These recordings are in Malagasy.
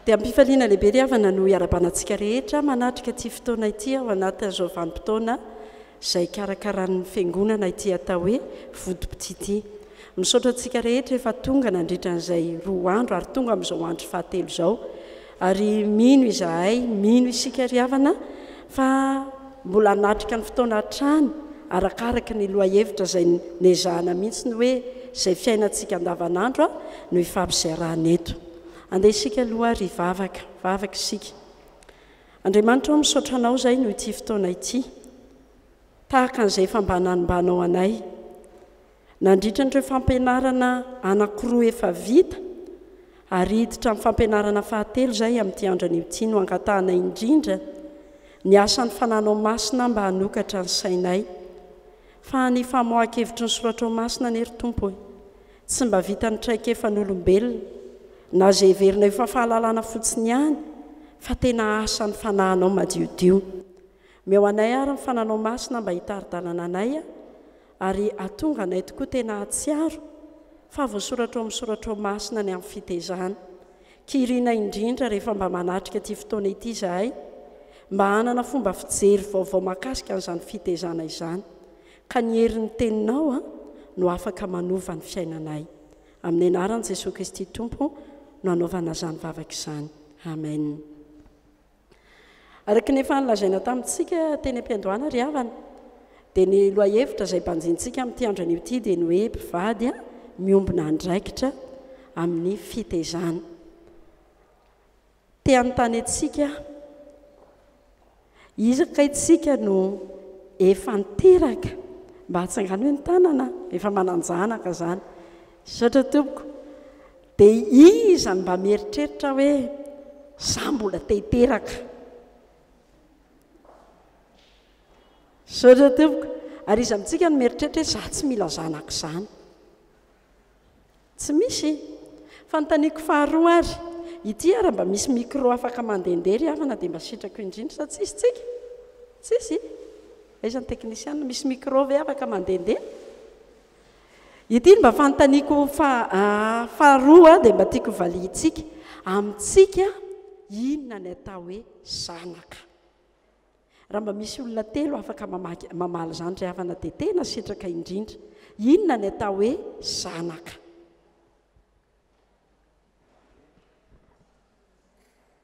Dia am-pifaliana lehibe ry havana no iarabanantsika rehetra manatrika ity fotoana ity ao anatin'izao vanim-potoana izay ikarakaran'ny Fiangonana ity atao hoe Votoboty ity. Misaotra antsika rehetra efa tonga nandritra an'izay roa andro ary tonga amin'izao andro fahatelo izao. Ary mino izahay, mino isika ry havana, fa mbola hanatrika ny fotoana hatrany, arakaraka ny lohahevitra izay nezahana mihitsy ny hoe izay fiainantsika andavanandro no hifampizarana eto. Andeha isika aloha ary hivavaka. Vavaka isika. Andriamanitra ô, misaotra Anao izahay noho ity fotoana ity. Tahaka an'izay efa mba nanimbanao anay. Nandritra an'ireo fampianarana anankiroa efa vita ary hiditra amin'ny fampianarana fahatelo izay amin'ity andro anio ity no angatahanay indrindra ny asan'ny fananao masina mba hanokatra ny sainay fa ny famoahan-kevitry ny soratrao masina anie ry Tompo e! tsy mba vitan'ny traikefan'olombelona na izay heverinay ho fa fahalalana fotsiny ihany fa tena asan'ny fanahinao madiodio. Omeo anay ary ny fananao masina mba hitari-dalana anay Ary hahatonga anay tokoa tena hahatsiaro fa voasoratra ao amin'ny soratra ao masina ny amin'ny fitezana. Kiriana indrindra rehefa mba manatrika ity fotoana ity izahay mba hanana fomba fijery vaovao mahakasika an'izany fitezana izany. Ka ny herin'ny teninao no afaka manova ny fiainanay. Amin'ny anaran'i Jesoa Kristy Tompo no anaovana izany vavaka izany. Amen. Araka ny efa nolazaina tamintsika teny am-piandohana ry havana dia ny lohahevitra izay banjintsika amin'ity andro anio ity dia ny hoe mpivady miombona andraikitra amin'ny fitezana. Te hanontany antsika aho, iza kay tsika no efa niteraka? Mba atsanganoy ny tanana efa manan-janaka izany. Misaotra tompoko. Dia iza no mba mieritreritra hoe za mbola te hiteraka? Misaotra tompoko. Ary iza amintsika no mieritreritra hoe za tsy mila zanaka izany? Tsy misy. Fanontaniako faharoa ary, ity ary mba misy micro afaka mandehandeha ry havana dia mba sitrako indrindra sa tsisy tsika? Tsisy? Aiza ny teknisiana? Misy micro ve afaka mandehandeha? Ity no mba fanontaniako faharoa dia mba tiako hovaliantsika. Amintsika, inona ny atao hoe zanaka? Raha mba misy olona telo afaka mamaly izany ry havana dia tena sitraka indrindra. Inona ny atao hoe zanaka?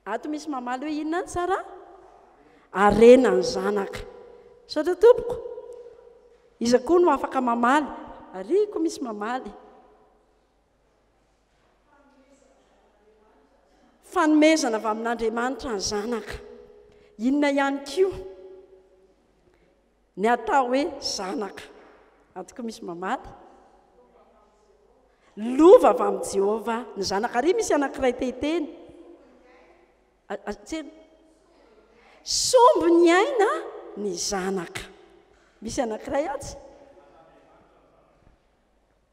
Ato misy mamaly hoe inona ny tsara? Harena ny zanaka. Misaotra tompoko. Iza koa no afaka mamaly? Arihiko misy mamaly. Fanomezana avy amin'Andriamanitra ny zanaka. Inona ihany koa? Ny atao hoe zanaka. Ato koa misy mamaly. Lova avy amin'i Jehovah ny zanaka. Ary misy anankiray te hiteny. Tsena. Sombo ny aina ny zanaka. Misy anankiray atsy.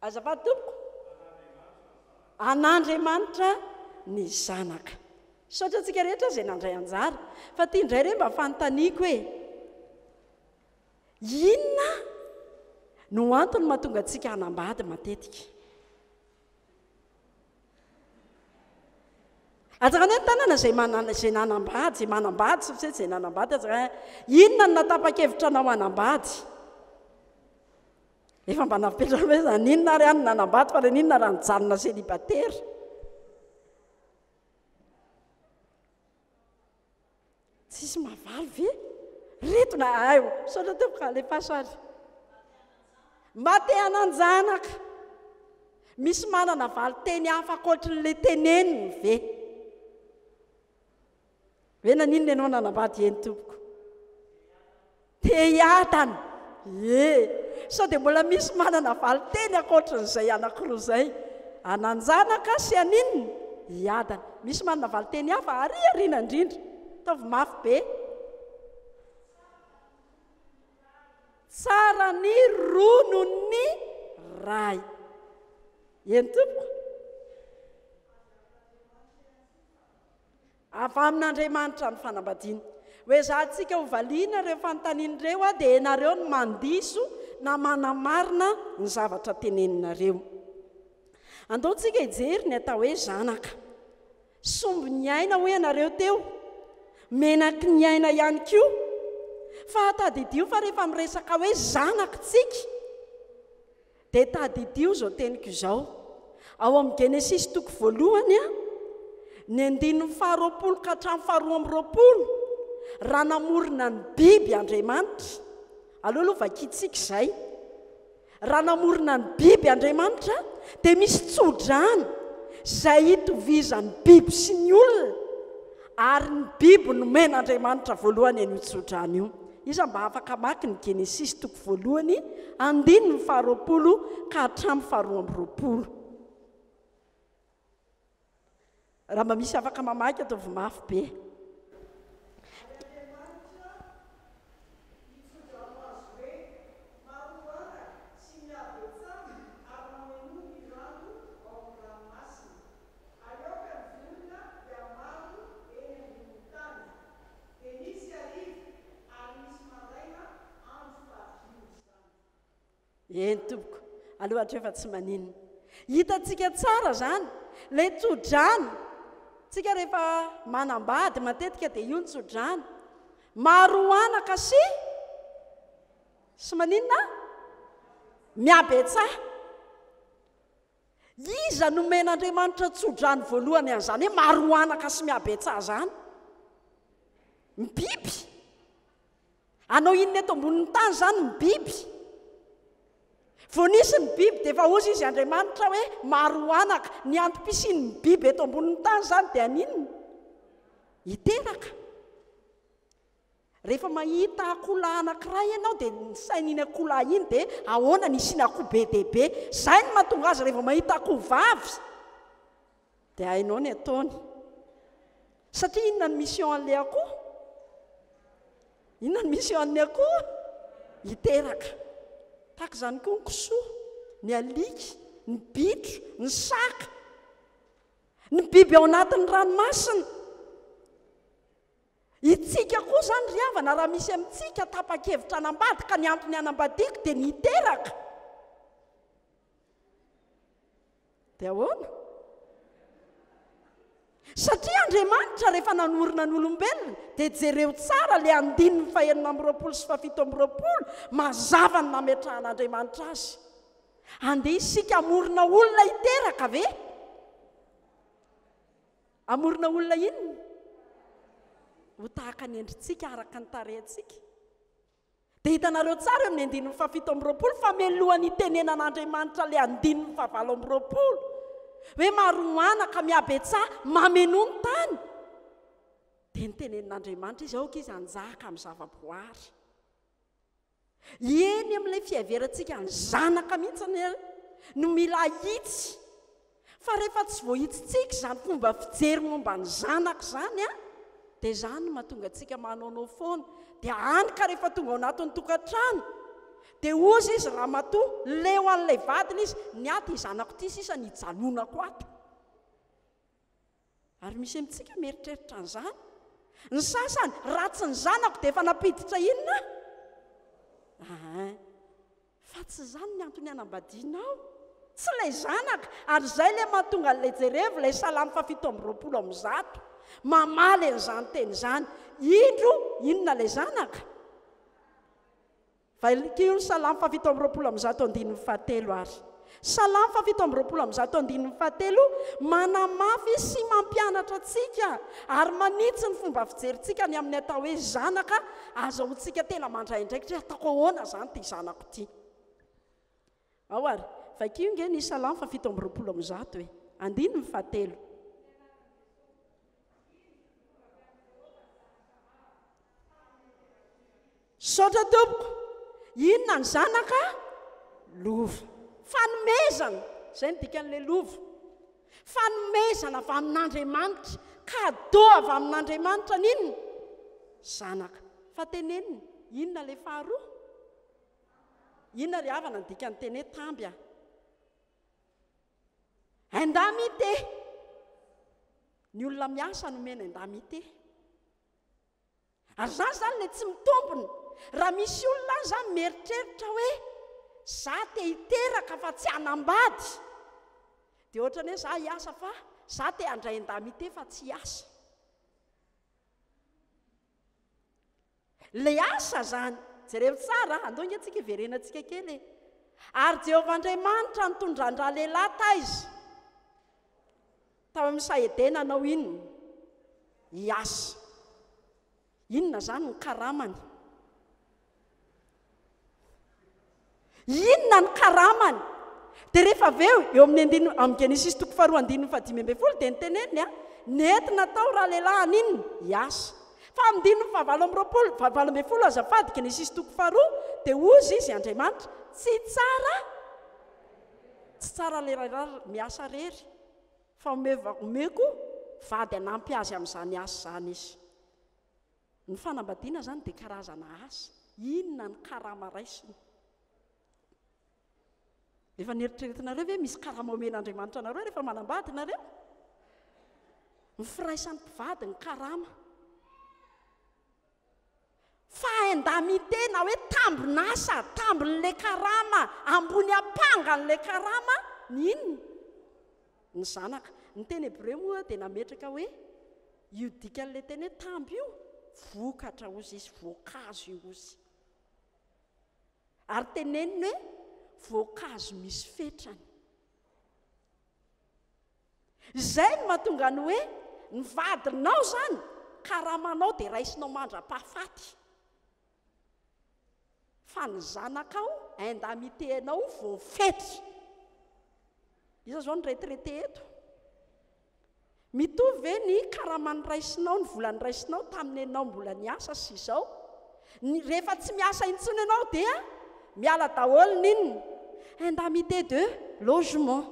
Azafady tompoko, an'Andriamanitra ny zanaka. Misaotra antsika rehetra izay nandray anjara. Fa ity indray re mba fanontaniako hoe, inona no antony mahatonga antsika hanambady matetika? Atsaka anie ny tanana izay manana izay nanambady, izay manambady sy izay nanambady atsaka. Inona no natapa-kevitra anao hanambady? Efa mba napetraka ve zany? N'inona ary any nanambato fa le n'inona raha nijanona célibataire? Tsisy mavaly ve? Reto na ayo, misaotra teo ka le pasary. Mba te hananjanaka. Misy manana valy teny hafa ankoatrin'le teneniny ve? Hoe naninona ianao nanambady eny tompoko? Te hiadana. Ie. Sao dia mbola misy manana valin-teny ankoatran'izay anankiroa izay? Hananjanaka sy haninona? Hiadana. Misy manana valin-teny hafa ary aoriana indrindra. Ataovy mafy be. Tsara ny ronon'ny ray. Eny tompoko. Avy amin'Andriamanitra ny fanambadiana. Hoezahantsika hovaliana ireo fanontaniana ireo aho dia ianareo no mandiso na manamarina ny zavatra teneninareo. Andeontsika hijery ny atao hoe zanaka. Sombin'ny aina hoy ianareo teo. Menaky ny aina ihany koa. Fa tadidio fa rehefa miresaka hoe zanak'tsika, Dia tadidio izao teniko izao. Ao amin'ny Genesisy toko voalohany a, ny andininy faharoapolo ka hatramin'ny faharoa amby roapolo, raha namorona ny biby Andriamanitra, aleo aloha vakintsika izay, raha namorona ny biby Andriamanitra, dia misy tsodrano izay itovizan'ny biby sy ny olona, ary ny biby nomen'Andriamanitra voalohany an'io tsodrano io. Iza mba afaka hamaky ny Genesisy toko voalohany andininy faharoapolo ka hatramin'ny faharoa amby roapolo? Raha mba misy afaka mamaky ataovy mafy be. Dia misy hariva ary misy maraina andro fahaviany izany. Eny tompoko, aleo hatrefa tsy maninona. Hitantsika tsara izany, ilay tsodrano, tsika rehefa manambady matetika dia io ny tsodrano. Maro anaka sy sy maninona? Mihabetsaha. Iza nomen'Andriamanitra tsodrano voalohany an'izany hoe maroanaka sy mihabetsaha izany? Ny biby. Hanao inona eto ambonin'ny tany izany ny biby? Vao nisy ny biby dia efa hozy izy Andriamanitra hoe maroanaka. Ny antom-pisian'ny biby eto ambonin'ny tany izany dia haninona? Hiteraka. Rehefa mahita akoholahy anankiray ianao dia ny sainy iny akoholahy iny dia ahoana ny hisiana akoho be dia be. Izay no mahatonga azy rehefa mahita akoho vavy dia hainao ny ataony. Satria inona ny mission an'ilay akoho? Inona ny mission an'ny akoho? Hiteraka. Tahaka izany koa ny kisoa, ny alika, ny bitro, ny saka, ny biby ao anatin'ny ranomasina. Isika koa izany ry havana raha misy amintsika tapa-kevitra hanambady ka ny antony hanambadiako dia ny hiteraka dia ahoana? Satria Andriamanitra rehefa nanorina ny olombelona dia jereo tsara ilay andininy fahenina amby roapolo sy fahafito amby roapolo mazava ny nametrahan'Andriamanitra azy. Andeha isika hamorona olona hiteraka ve? Hamorona olona inona? Ho tahaka ny endritsika, araka ny tarehintsika. Dia hitanareo tsara eo amin'ny andininy fahafito amby roapolo fa mialohan'ny hitenenan'Andriamanitra ilay andininy fahavalo amby roapolo hoe maroana ka mihabetsaha mamenoa ny tany, dia nitenenin'Andriamanitra izy, aoka izy hanjaka amin'ny zavaboary. Eny amin'ilay fiheverantsika ny zanaka mihitsy anie no mila ahitsy fa rehefa tsy voahitsitsika izany fomba fijery momba ny zanaka izany a dia izany no mahatonga antsika manaonao foana dia any ka rehefa tonga ao anatin'ny tokantrano dia hozy izy ramatoa leo an'ilay vadiny izy ny aty zanako ity sisa ny hijanonako ato Ary misy amintsika mieritreritra an'izany. Ny sasany, raha tsy ny zanako dia efa nampiditra inona aho? Ahin. Fa tsy izany ny antony hanambadiana aho. Tsy ilay zanaka, ary izay ilay mahatonga an'ilay jerevo ilay Salamo fahafito amby roapolo amby zato. Mamaly an'izany teny izany. Indro, inona ilay zanaka? Vainikio, Salamo fahafito amby roapolo amby zato andininy fahatelo ary Salamo fahafito amby roapolo amby zato andininy fahatelo manamafy sy mampianatra antsika ary manitsy ny fomba fijerintsika ny amin'ny atao hoe zanaka, azahoantsika tena mandray andraikitra hoe ataoko ahoana izany ity zanako ity. Ao ary, vakio nge ny Salamo fahafito amby roapolo amby zato e! Andininy fahatelo. Saotra tompoko. Inona ny zanaka? Lova. Fanomezana. Izay ny dikan'ilay lova. Fanomezana avy amin'Andriamanitra. Kado avy amin'Andriamanitra n'inona? Zanaka. Fa tenenina. Inona ilay faharoa? Inona ry havana ny dikan'ny teny hoe tamby a? Indemnité! Ny olona miasa no omena indemnité. Ary izany izany ilay tsy mitombina. Raha misy olona any izany mieritreritra hoe za te hiteraka fa tsy hanambady, dia ohatrany hoe za hiasa fa za te handray indemnité fa tsy hiasa. Ilay asa izany. Jereo tsara, andao ange tsika hiverenantsika kely e. Ary Jehovah Andriamanitra nitondra an-dralehilahy taiza? Tao amin'ny saha Edena hanao inona? Hiasa. Inona izany ny karamany? Inona ny karamany? Dia rehefa avy eo, eo amin'ny andininy, amin'ny Genesisy toko faharoa andininy fahadimy ambin'ny folo dia niteneniny a, nety natao ralehilahy an'inona? Hiasa. Fa amin'ny andininy fahavalo amby roapolo, fahavalo ambin'ny folo azafady, Genesisy toko faharoa, dia hozy izy, Andriamanitra, tsy tsara, tsy tsara ralehilahy miasa irery, fa omeko vady hanampy azy amin'izany asa izany izy. Ny fanambadiana izany dia karazana asa. Inona ny karama raisina? Efa neritreretinareo ve misy karama omen'Andriamanitra anareo rehefa manambady nareo? Ny firaisan'ny mpivady ny karama. Fahainda-mite na hoe tambin'asa, tambin'ilay karama, ambony ampangan'ilay karama, ny inona? Ny zanaka. Ny teny hebreo moa dia nametraka hoe io dikan'ilay teny hoe tamby io, vokatra hozy izy, voankazo io hozy. Ary teneniny hoe voankazo misy fetrany. Izay no mahatonga ny hoe ny vadinao izany, karamanao dia raisinao mandra-pahafaty. Fa ny zanakao indemnité anao voafetra. Iza zao no retraité eto? Mitovy ve ny karama niraisinao, ny vola niraisinao tamin'ny enao mbola niasa sy izao? Ny, rehefa tsy miasa intsony ianao dia miala daholo ny indemnité de logement,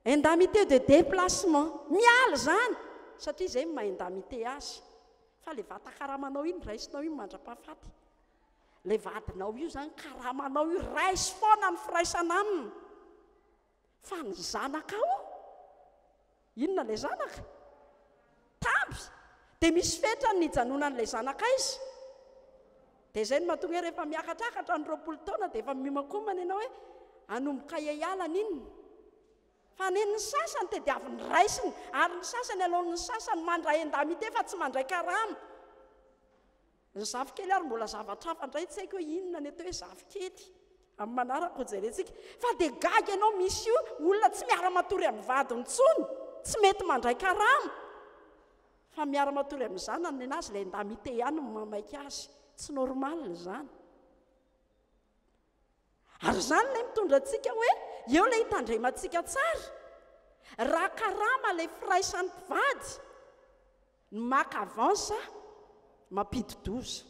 indemnité de déplacement. Miala izany satria izay maha indemnité azy. Fa ilay vata karamanao iny raisinao iny mandra-pahafaty. Ilay vadinao io izany karamanao io, raiso foana ny firaisana aminy. Fa ny zanakao, inona ilay zanaka? Tamby. Dia misy fetrany ny hijanonan'ilay zanaka aiza? Dia izay no mahatonga hoe rehefa miakatrakatra ny roapolo taona dia efa miomankomana ianao hoe hanomboka hiala an'inona? Fa ny ny sasany tediaviny raisiny, ary ny sasany aloan' ny sasany mandray indemnité fa tsy mandray karama. Ny zafikely ary mbola zavatra hafa indray, tsy haiko hoe inona ny atao hoe zafikely, amin'ny manaraka ho jerentsika. Fa dia gaga ianao misy olona tsy miara-matory amin'ny vadiny intsony, tsy mety mandray karama, fa miara-matory amin'ny zanany, nenazy ilay indemnité ihany no mamaika azy. Tsy normal izany. Ary izany ilay mitondra antsika hoe eo ilay hitandremantsika tsara. Raha karama ilay firaisan'ny mpivady, ny maka avance mampidi-doza.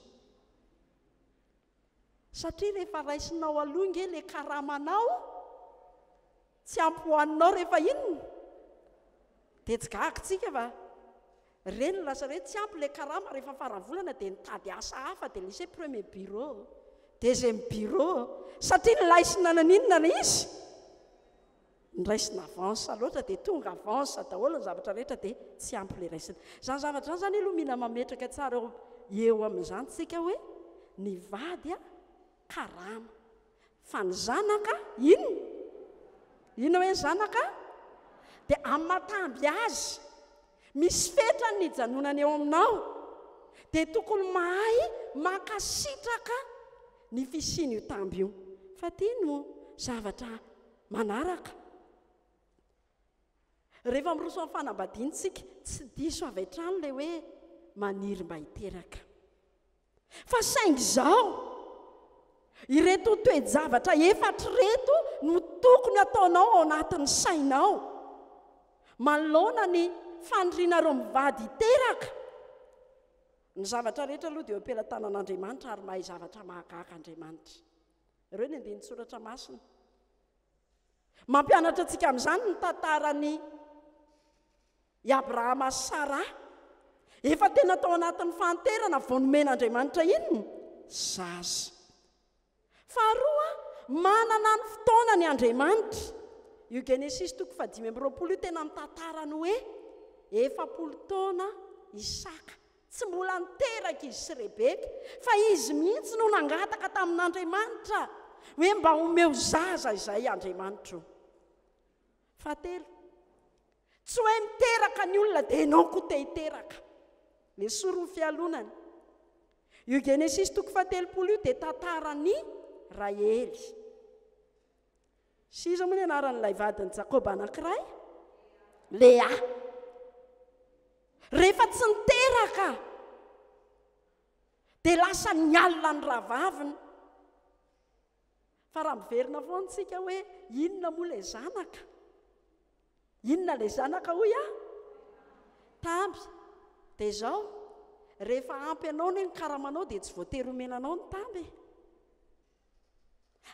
Satria rehefa raisinao aloha ange ilay karamanao, Tsy ampy ho anao rehefa inona? Dia tsy gaga tsika fa re no lasa hoe tsy ampy ilay karama rehefa faran'ny volana dia nitady asa hafa dia lise premier bureau, deuxième bureau satria nilaisina naninona ilay izy? Niraisina avance loatra dia tonga avance daholo ny zavatra rehetra dia tsy ampy ilay raisina. Izany zavatra izany izany aloha mila mametraka tsara eo eo amin'izany tsika hoe ny vady a Karama. Fa ny zanaka, inona? Inona hoe zanaka? Dia amin'ny maha-tamby azy. Misy fetra ny nijanonany eo aminao. Dia tokony mahay mankasitraka ny fisian'io tamby io. Fa ity no zavatra manaraka. Rehefa miroso amin'ny fanambadiantsika, tsy diso avy hatrany ilay hoe maniry mba hiteraka. Fa saingy izao, ireto toe-javatra efatra ireto no tokony hataonao ao anatin'ny sainao manoloana ny fanirianareo mivady hiteraka, Ny zavatra rehetra aloha dia eo am-pelatanan'Andriamanitra ary mahay zavatra mahagaga Andriamanitra. Ireo ny andinin-tsoratra masina. Mampianatra antsika amin'izany ny tantaran'i I Abrahama sy Saraha, efa tena tao anatin'ny fahanterana vao nomen'Andriamanitra inona? Zaza. Faharoa, manana ny fotoanany Andriamanitra. Io Genesisy toko fahadimy amby roapolo io tena mitantara ny hoe efapolo taona Isaka. Tsy mbola niteraka izy sy Rebeka, fa izy mihitsy no nangataka tamin'Andriamanitra hoe mba omeo zaza izay Andriamanitra o. Fahatelo, tsy hoe miteraka ny olona dia ianao koa te hiteraka. Nesory ny fialonana. Io Genesisy toko fahatelopolo io dia tantaran'i Rahely. Sy iza moa ny anaran'ilay vadin'i Jakoba anankiray? Lea. Rehefa tsy niteraka dia lasa ny alina ny rahavaviny. Fa raha miverina foana isika hoe inona moa ilay zanaka? Inona ilay zanaka hoy aho? Tamby. Dia izao, rehefa ampy anao ny karamanao dia tsy voatery omena anao ny tamby. E.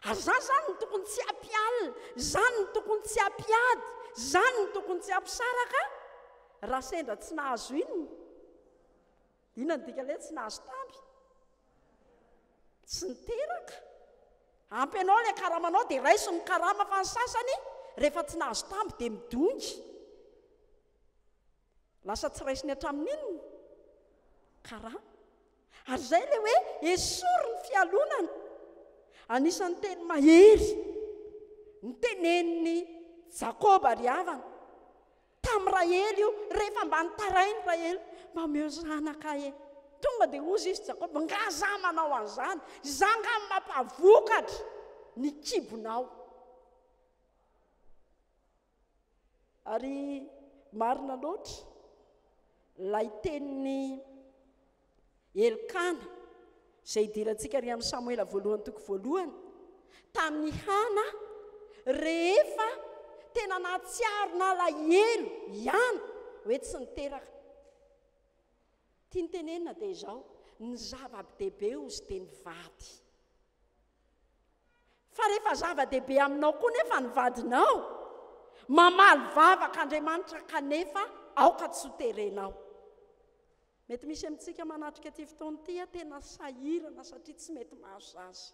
Ary za zany ny tokony tsy hampialina, zany ny tokony tsy hampiady, zany ny tokony tsy hampisaraka raha sendra tsy nahazo inona. Inona no dikan'ilay hoe tsy nahazo tamby? Tsy niteraka. Ampy anao ilay karamanao dia raiso ny karama fa ny sasany rehefa tsy nahazo tamby dia midongy. Lasa tsy raisiny hatramin'inona? Karama. Ary izay ilay hoe esory ny fialonana. Anisan'ny teny mahery ny tenenin'ny Jakoba ry havana. Tamin'i Rahely io, rehefa mba nitarain'i Rahely, Mba omeo zanaka ahy e! Tonga dia hozy izy Jakoba, Nga za manao an'izany? Za nga no mampavokatra ny kibonao. Ary marina loatra ilay tenin'i Elkana, izay idirantsika ary amin'ny Samoela voalohany toko voalohany, tamin'i Hana, rehefa tena nahatsiaro nalahelo ihany hoe tsy niteraka. Ny tiany tenenina dia izao, ny zava-dehibe hozy dia ny vady. Fa rehefa zava-dehibe aminao koa nefa ny vadinao, mamaly vavaka Andriamanitra kanefa aoka tsy ho terenao. Mety misy amintsika manatrika ity fotoana ity a, tena sahirana satria tsy mety mahazo zaza.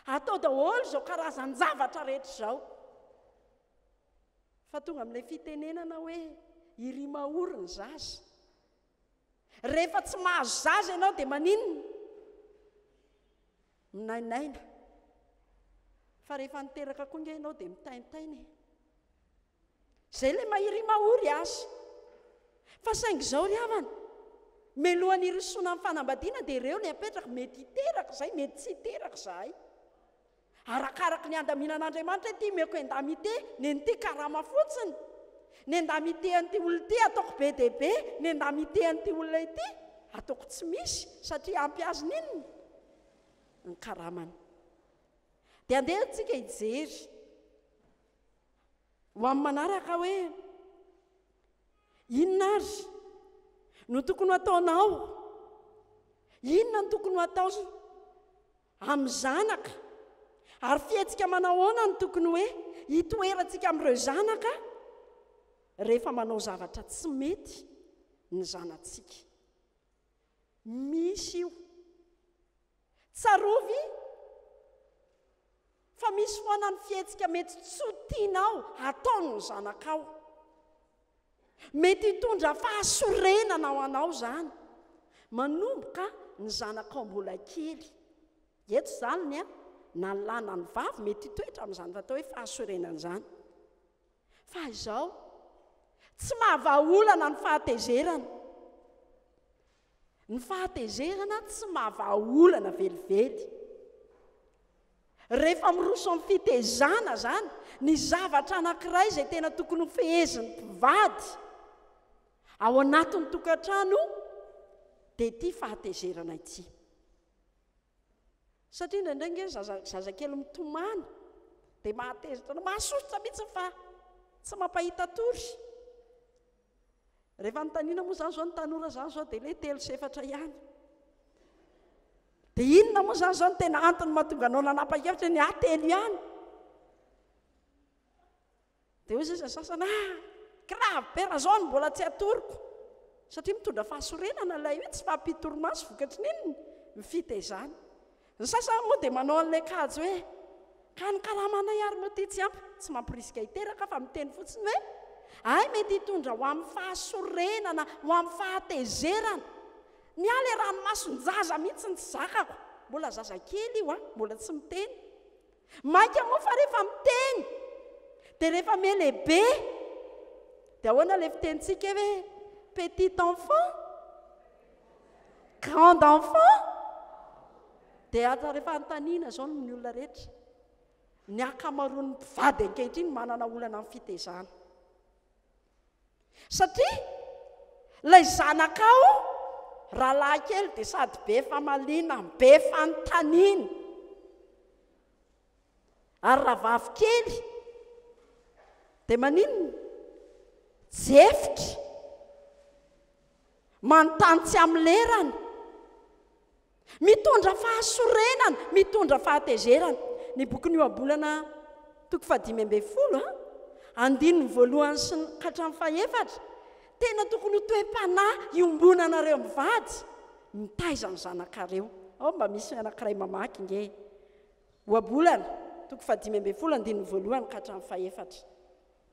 Atao daholo izao karazan-javatra rehetra izao. Fa tonga amin'ilay fitenenana hoe irimaory ny zaza. Rehefa tsy mahazo zaza ianao dia maninona? Minainaina. Fa rehefa niteraka koa nge ianao dia mitaintaina e. Izay ilay mairi mahory azy. Fa saingy izao ry havana, meloha ny hirosoana amin'ny fanambadiana dia ireo ilay apetraka, mety hiteraka izay, mety tsy hiteraka izahay. Arakaraka ny handaminan'Andriamanitra hoe ity meko endamite, nen'ity karama fotsiny, ny endamite an'ity olona ity ataoko be dia be, ny endamite an'ity olona ity ataoko tsy misy satria ampy azy ny inona? Ny karamany. Dia andeha isika hijery. ho amin'ny manaraka hoe inona ary no tokony ho ataonao inona no tokony ho atao amin'ny zanaka ary fihetsika manahoana no tokony hoe hitoerantsika amin'ireo zanaka rehefa manao zavatra tsy mety ny zanatsika misy io Tsarovy fa misy foana ny fihetsika mety tsy ho tianao hataon'ny zanakao. Mety hitondra fahasorenana ho anao izany, manomboka ny zanakao mbola kely. Eto izany ny na ny lahy na ny vavy mety hitoetra amin'izany atao hoe fahasorenana izany. Fa izao, tsy mahavaha olana ny fahatezerana. Ny fahatezerana tsy mahavahaolana velively. Rehefa miroso amin'ny fitezana izany, ny zavatra anankiray izay tena tokony ho fehezin'ny mpivady ao anatin'ny tokantrano dia ity fahatezerana ity. Satria indraindray nge zaza zaza kely mitomany dia mahateza tena mahasosotra mihitsy fa tsy mampahita tory. Rehefa anontaniana moa izany izao ny tanora izany izao dia le telo sy efatra ihany. Dia inona moa izany izao ny tena antony mahatonga anao nanapa-kevitra ny ahy telo ihany. Dia hoy sisa sasany, ah, grave be raha izao no mbola tsy atoroko. Satria mitondra fahasorenana ilay hoe tsy fahampian-torimaso vokatry ny inona? Ny fitezana. Ny sasany moa dia manao an'ilay kajy hoe, ka ny karamanay ary moa ity tsy ampy, tsy mamporisika hiteraka fa miteny fotsiny hoe, hay mety hitondra ho amin'ny fahasorenana, ho amin'ny fahatezerana. Ny ahy ilay ranomason-jaza mihitsy no tsy zakako. Mbola zazakely io an, mbola tsy miteny. Mainka moa fa rehefa miteny dia rehefa melehibe dia ahoana ilay fitenintsika hoe petit enfant, grand enfant dia atra rehefa antanina izao ny olona rehetra. Ny ankamaroan'ny mpivady ankehitriny manana olana amin'ny fitezana. Satria ilay zanakao rahalahy kely dia sady be famaliana, be fanontaniana. Ary rahavavy kely dia maninona? Jefitra. Manontany tsy amin'ny lerany. Mitondra fahasorenana, mitondra fahatezerana. Ny bokin'ny Ohabolana toko fahadimy ambin'ny folo, andininy voalohany sy ny hatramin'ny fahefatra, Tena tokony ho toe-panahy iombonanareo mivady, mitaiza ny zanakareo. Ao mba misy anankiray mamaky nge e. Ohabolana, toko fahadimy ambin'ny folo, andininy voalohany ka hatramin'ny fahefatra.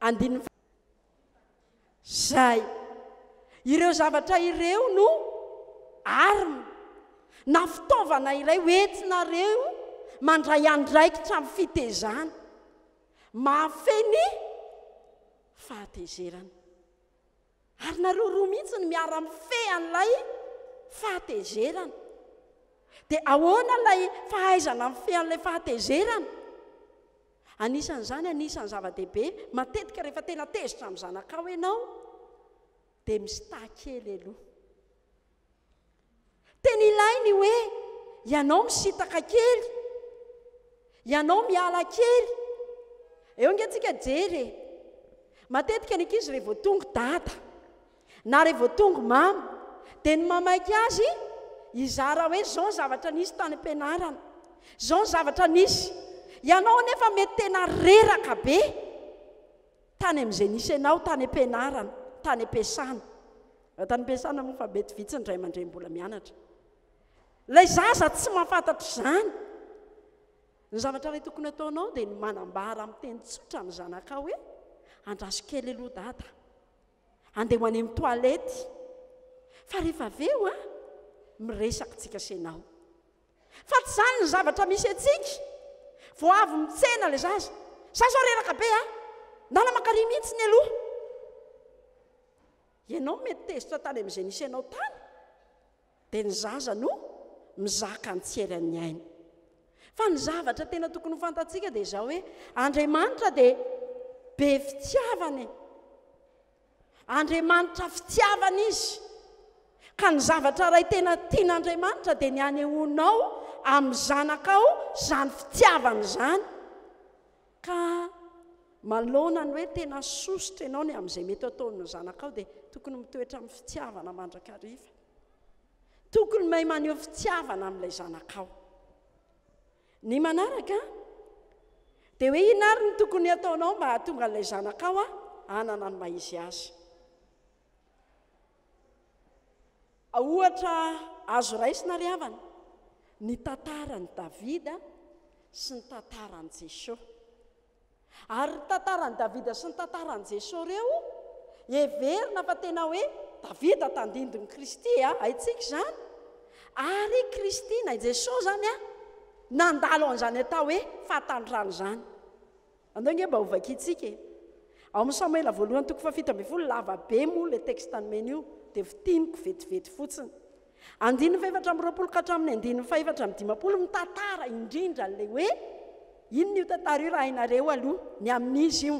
Andininy Zay. Ireo zavatra ireo no arme na fitaovana iray hoentinareo mandray andraikitra amin'ny fitezana. Mahafehy ny fahatezerana. Ary nareo roa mihitsy no miara mifehy an'ilay fahatezerana. Dia ahoana ilay fahaizana mifehy an'ilay fahatezerana? Anisan'izany, anisan'ny zava-dehibe, matetika rehefa tena tezitra amin'ny zanakao ianao, dia mi-sta kely aloha. Tena ilaina io hoe ianao misitaka kely, ianao miala kely. Eo nge tsika jery e. Matetika ny ankizy re vao tonga dada na re vao tonga mama dia ny mamaika azy hizara hoe zao ny zavatra nisy tany am-pianarana, zao ny zavatra nisy. Ianao anefa mety tena reraka be. Tany amin'izay nisy anao tany am-pianarana, tany am-piasana. Raha tany am-piasana moa efa mety vitsy ny ray aman-dreny mbola mianatra. Ilay zaza tsy mahafantatra izany. Ny zavatra iray tokony ataonao dia ny manambara amin'ny teny tsotra ny zanakao hoe andraso kely aloha dada. Andeha ho any amin'ny toalety. Fa rehefa avy eo, miresaka tsikasenao. Fa tsy zany ny zavatra misy antsika. Vao avy mitsena le zaza. Za zao reraka be a! Nala makary mihitsy ny aloha. Ianao mety tezitra tany amin'izay nisy anao tany, dia ny zaza no mizaka ny tsy eran'ny ainy. Fa ny zavatra tena tokony ho fantatsika dia izao hoe Andriamanitra dia be fitiavana e. Andriamanitra fitiavana Izy, ka ny zavatra iray tena tian'Andriamanitra dia ny hanehoanao amin'ny zanakao izany fitiavana izany. Ka manoloana ny hoe tena sosotra ianao ny amin'izay mety ataon'ny zanakao dia tokony mitoetra amin'ny fitiavana mandrakariva. Tokony mahay maneho fitiavana amin'ilay zanakao. Ny manaraka dia hoe inona ary no tokony hataonao mba hahatonga an'ilay zanakao hanana ny maha izy azy. Ohatra azo raisina ry havana ny tantaran'i Davida sy ny tantaran'i Jesosy. Ary ny tantaran'i Davida sy ny tantaran'i Jesoa ireo, heverina fa tena hoe Davida tandindon'i Kristy e, haintsika izany. Ary i Kristy, na i Jesoa izany, nandalo an'izany atao hoe fahatanitrana izany. Andao ange mba hovakiantsika e. Ao amin'ny Samoela voalohany toko fahafito ambin'ny folo, lava be moa ilay texte nomena io, dia fintiniko vetivety fotsiny. Andininy fahefatra amby roapolo ka hatramin'ny andininy fahefatra amby dimampolo mitantara indrindra an'ilay hoe inona io tantara io raha hainareo aloha, ny amin'iza io?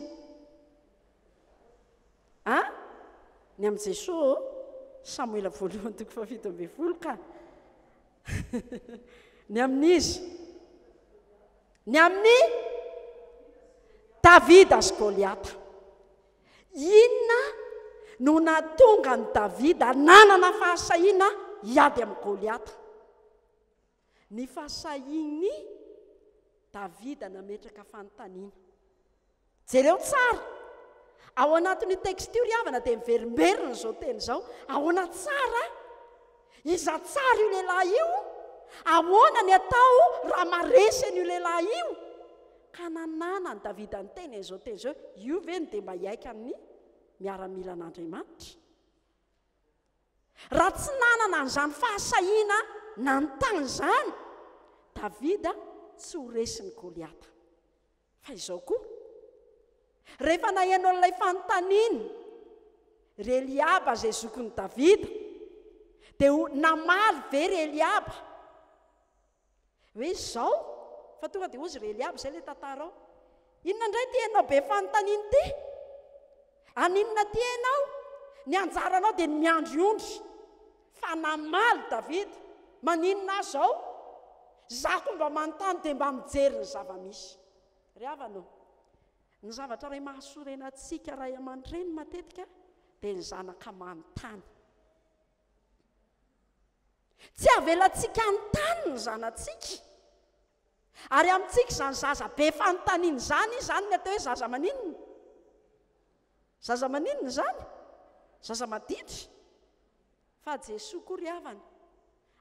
A, ny amin'i Jesoa ô, Samoela voalohany toko fahafito ambin'ny folo ka. ny amin'iza? Ny amin'ny Davida sy Goliata. Inona no nahatonga an'i Davida nanana fahasahiana hiady amin'i Goliata? Ny fahasahian'i Davida nametraka fanontaniana. Jereo tsara. Ao anatin'io texte io ry havana dia miverimberina izao teny izao, ahoana tsara? Iza tsara io lehilahy io? Ahoana ny atao raha maresy an'io lehilahy io? Ka nananan'i Davida niteny an'izao teny izao, Io ve no dia mba hiaiky amin'ny miaramilan'Andriamanitra? Raha tsy nanana an'izany fahasahiana nanontany izany Davida, tsy ho resin'i Goliata. Fa izao koa, rehefa naheno an'ilay fanontaniany ry Eliaba izay zokin'i Davida, dia ho namaly ve ry Eliaba hoe izao? Fa tonga dia hozy ry Eliaba, izay ilay tantara ao. Inona indray ity ianao be fanontaniana ity? Aninona aty ianao? Ny anjaranao dia ny miandry ondry. Fa namaly Davida, Maninona aho izao? Izaho koa mba manontany dia mba mijery ny zava-misy. Ry havana ô, ny zavatra iray mahasorena antsika ray aman-dreny matetika dia ny zanaka manontany. Tsy avelantsika hanontany ny zanatsika. Ary amintsika izany zaza be fanontaniana izany izy izany ny atao hoe zaza maninona? Zaza maninona izany? Zaza maditra. Fa Jesoa koa ry havana,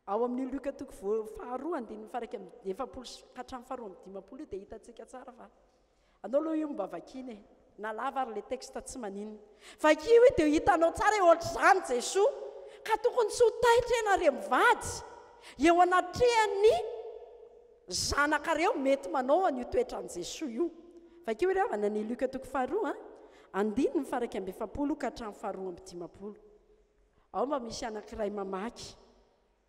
ao amin'io Lioka toko voa faharoa andininy faha iraika amby efapolo ka hatramin'ny faharoa amby dimampolo io dia hitantsika tsara fa Anao aloha io mba vakina e. Na lava ary le texte tsy maninona. Vakio io dia hitanao tsara hoe ohatr'izany Jesoa. Ka tokony tsy ho taitra ianareo mivady eo anatrehan'ny zanakareo mety manao an'io toetran'i Jesoa io. Vakio re havana ny Luc toko faharoa andininy faharaika amby efapolo ka hatramin'ny faharoa amby dimampolo. Ao mba misy anankiray mamaky.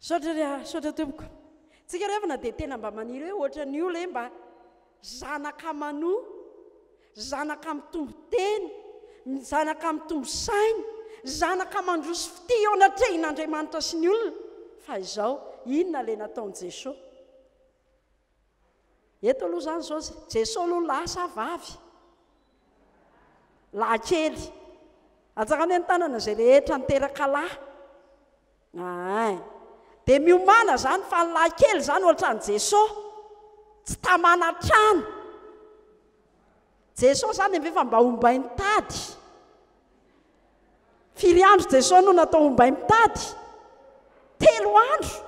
Misaotra re ah, misaotra tompoko. Tsika rehefa na dia tena mba maniry hoe ohatran'ny io le mba zanaka manoa, zanaka mitombo tena, zanaka mitombo saina, zanaka mandroso fitia eo anatrehin'Andriamanitra sy ny olona, fa izao inona le nataon'i Jesosy? Eto aloha izany izao Jesosy no lasa vavy lahikely. Atsara anie ny tanana izay rehetra niteraka lahy. Ahay. Dia miomana izany fa ny lahikely izany ohatran'i Jesosy. Tsy tamana trano. Jesosy izany dia efa mba ombay nitady. Firy andro Jesosy no natao ombay mitady? Telo andro.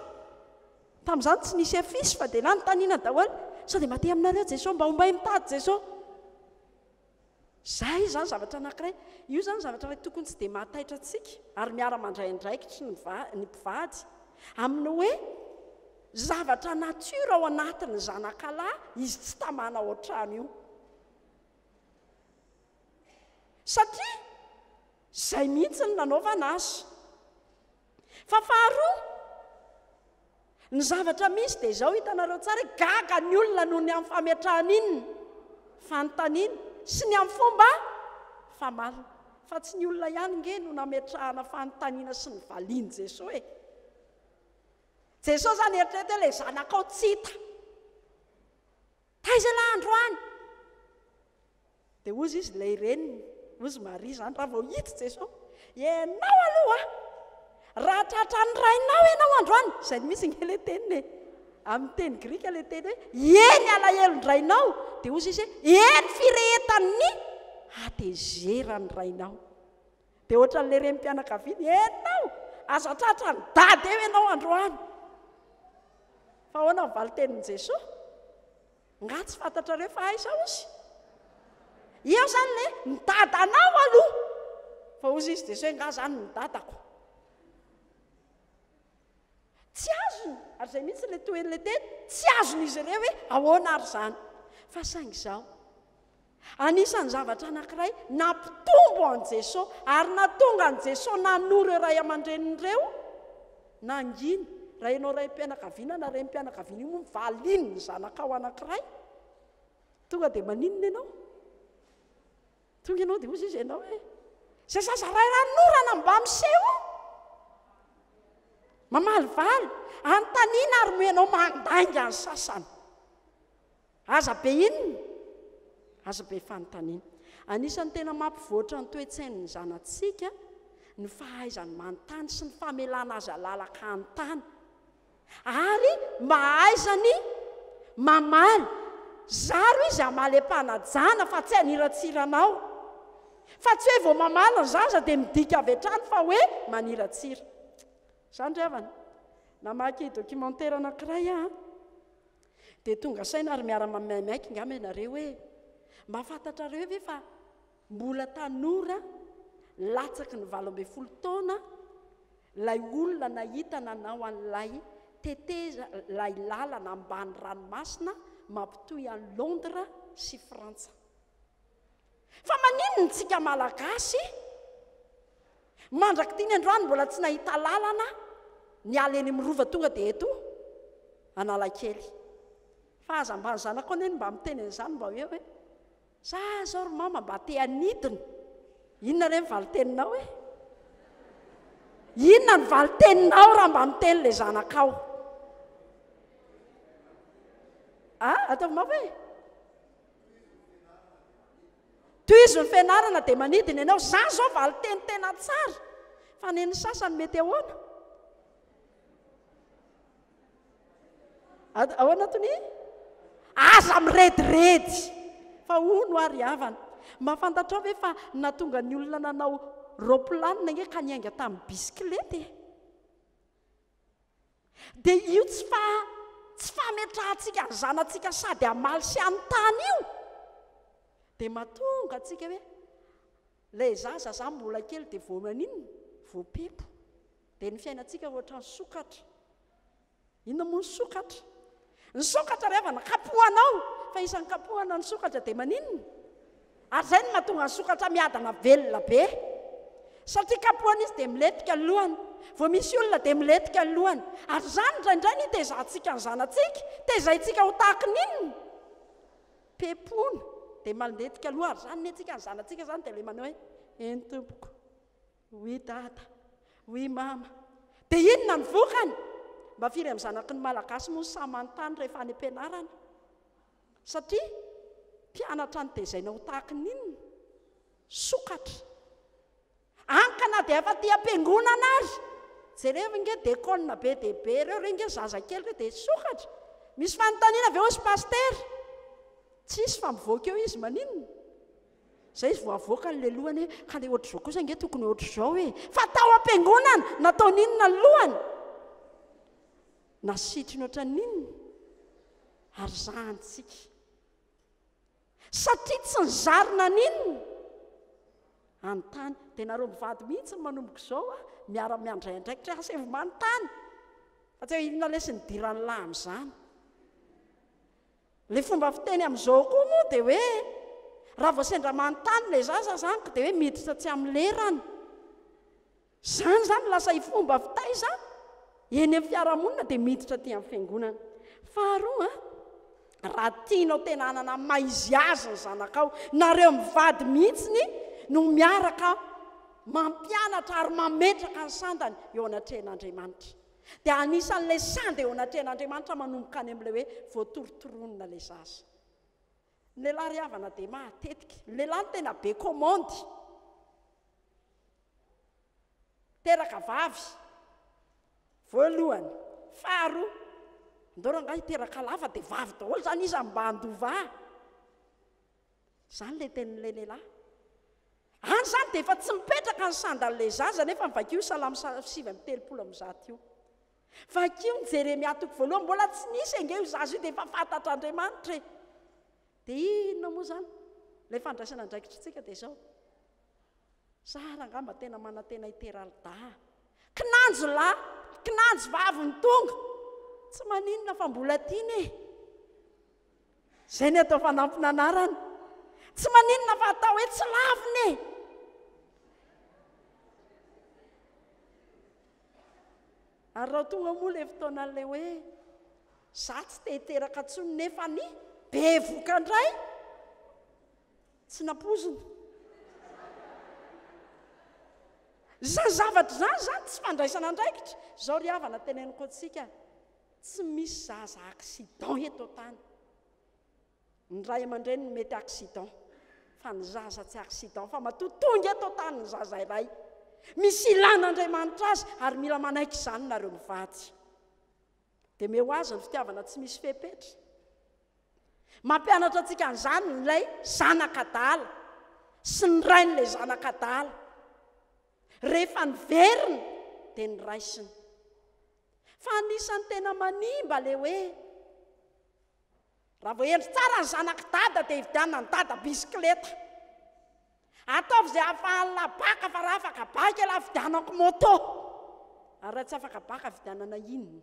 Tamin'izany tsy nisy affiche fa dia nanontaniana daholo sao dia mba te aminareo Jeso mba ombay mitady Jeso. Zay izany zavatra anankiray. Io izany zavatra iray tokony tsy dia mahataitra antsika ary miara mandray andraikitry ny ny mpivady amin'ny hoe zavatra nature ao anatin'ny zanakalahy izy tsy tamana ao an-trano io. Satria zay mihitsy no nanaovana azy. Fa faharoa, ny zavatra misy dia izao, hitanareo tsara, gaga ny olona noho ny amin'ny fametrahana inn, fanontaniana, sy ny amin'ny fomba famalina. Fa tsy ny olona ihany nge no nametrahana fanontaniana sy ny valian'i Jesoa e. Jesoa izany eritrereto hoe ilay zanakao tsy hita. Taiza lahy androany? Dia hozy izy, ilay reniny, hozy Maria izany, raha vao hita i Jesoa, Ianao aloha a! Raha tratran'ny rainao ianao androany, izay mihitsy nge ilay teniny e, amin'ny teny grika ilay teny hoe, Ieny alahelon-drainao, dia hozy izy hoe, Ieny firehetan'ny hatezeran'ny rainao. Dia ohatran'ilay renim-pianakaviana, enao! Aza tratra ny dada eo ianao androany! Fa ahoana ny valin-tenin'i Jesoa? Nga tsy fantatrareo fa aiza ozy? Eo zany le ny dadanao aloha! Fa ozy izy Jesoa, nga zany ny dadako? Tsy azony, ary izay mihitsy ilay tohin'ilay teny, tsy azon'izy ireo hoe ahoana ary izany. Fa saingy izao, anisan'ny zavatra anankiray nampitombo an'i Jesoa ary nahatonga an'i Jesoa nanoro ireo ray aman-dreniny ireo, na angina, raha ianao raim-pianakaviana na renim-pianakaviana io moa no valian'ny zanakao anankiray, tonga dia maninona ianao? Tonga ianao dia hozy izy ianao hoe izay zaza iray ran'orana mba miseho mamaly valy anontaniana ary moa ianao mandainga ny sasany aza be inona aza be fanontaniana anisan'ny tena mampivoatra ny toe-tsain'ny zanatsika ny fahaizany manontany sy ny famelana azy alalaka hanontany Ary mahaiza ny mamaly. Zaro izy hamaly am-panajana fa tsy haniratsira anao. Fa tsy hoe vao mamaly ny zaza dia midika avy hatrany fa hoe maniratsira. Izany ry havana. Namaky documentaire anankiray aho an, dia tonga saina ary miara-maimaika angamba ianareo hoe, Mba fantatrareo ve fa. Mbola tanora, latsaky ny valo ambin'ny folo taona, ilay olona nahita nanao an'ilay teteza ilay lalana ambany ranomasina mampitohy an'i Londres sy Frantsa. Fa maninona isika Malagasy mandrak'ity ny androany mbola tsy nahita lalana niala eny amin'ny Rova tonga dia eto Analakely? Fa aza mba ny zanako anie no mba miteny an'izany mba hoe hoe Za zao ry mama mba te hanidina. Inona re ny valin-teninao e? Inona ny valin-teninao raha mba miteny le zanakao? A, ataovy mama e? Tohizo ny fianarana dia manidina ianao. Za zao valin-teny tena tsara. Fa nen'ny sasany mety ahoana? Ad- Ao anatin'ny aza mirediredy fa hono ary havana. Mba fantatrao ve fa natonga ny olona nanao raopilanina nge ka niainga tamin'ny bisikileta e? Dia io tsy fa tsy fametrahantsika ny zanantsika sady hamaly sy hanontany io dia matonga antsika hoe ilay zaza zany mbola kely dia vao maninona? Voapepo. Dia ny fiainantsika ohatran'ny sokatra. Inona moa ny sokatra? Ny sokatra rehefa nakapohanao, fa isan'ny kapohana ny sokatra dia maninona? Ary izay no mahatonga ny sokatra miadana velona be. Satria kapohana izy dia milentika ny lohany. Vao misy olona dia milentika ny lohany. Ary izany indraindray no itezahantsika ny zanatsika. Tezaintsika ho tahaka ny inona? Pepona. Dia malentika loha. Ary izany nentsika ny zanatsika izany dia ilay manao hoe, eny tompoko. Oui dada, oui mama. Dia inona ny vokany? Mba firy amin'ny zanaky ny Malagasy moa no sahy manontany rehefa any am-pianarana? Satria mpianatra notezaina ho tahaky ny inona? Sokatra. Any ka na dia efa aty am-piangonana ary, jereo nge dekona be dia be ireo, ireo nge zazakely ireo dia sokatra. Misy fanontaniana ve hozy Pasitera? Tsisy fa mivoaka eo izy maninona? Izay izy vao avoaka ny lelohany hoe, ka ilay ohatr'izao kosa ange tokony ohatr'izao e! Fa tao am-piangonana, nataony inona ny lohany? Nasitriny ohatran'ny inona? Ary zahantsika. Satria tsy nizary naninona? Anontany. Dia nareo mivady mihitsy manomboka izao a, miara miandray andraikitra hoe asa manontany. Fa tsy hoe inona lesy nidiran'ny lahy amin'izany. Ilay fomba fiteny amin'izao koa moa dia hoe raha vao sendra manontany ilay zaza izany ka dia hoe miditra tsy amin'ny lerany. Izany izany lasa ifomba fitaiza eny amin'ny fiarahamonina dia miditra aty amin'ny fiangonana. Faharoa, raha tianao tena hanana maiziazy ny zanakao, nareo mivady mihitsiny no miaraka mampianatra ary mametraka ny sandany eo anatrehan'Andriamanitra. dia anisan'ilay sanda eo anatrehan'Andriamanitra manomboka any amin'ilay hoe voatory toronona ilay zaza. Ny lehilahy ry havana dia matetika, ny lehilahy no tena be kômandy, teraka vavy, voalohany, faharoa, andao rangahy hiteraka lahy fa dia vavy daholo izany izy mba handoa vaha. Izany ilay tenin'ilay lehilahy. Any izany dia efa tsy mipetraka ny sandalin'ilay zaza nefa vakio salamo sivy amby telopolo amby zato io. Vakio ny Jeremia toko voalohany, mbola tsy nisy ange io zaza io dia efa fantatr'Andriamanitra e. Dia inona moa izany? Ilay fandraisana andraikitra antsika dia izao. Sara angamba tena manantena hiteraldaha. Kinanjo lahy, kinanjo vavy ny tonga. Tsy maninona fa mbola tiana e. Izay ny atao fanampina anarana. Tsy maninona fa atao hoe tsy lavina e. Ary raha tonga moa ilay fotoanan'ilay hoe za tsy te hiteraka intsony nefa ny bevoka indray tsy nampozina. Izany zavatra izany izany tsy fandraisana andraikitra. Izao ry havana teneniko antsika. Tsy misy zaza accident eto an-tany. Ny ray aman-dreny no mety accident, fa ny zaza tsy accident, fa matoa tonga eto an-tany ny zaza iray, misy ilàn'Andriamanitra azy, ary mila manaiky izany nareo mivady. Dia meo ho azy ny fitiavana tsy misy fepetra. Mampianatra antsika an'izany ilay zanak'adala sy ny rain'ilay zanak'adala. Rehefa niverina, dia ny raisiny. Fa anisan'ny tena manimba le hoe raha vao hendry tsara ny zanak'i dada dia hividianan'i dada bisikileta. Ataovy izay ahafahan'ny lahy baka fa raha afaka baka ialahy vidianako moto. Ary raha tsy afaka baka vidianana inona?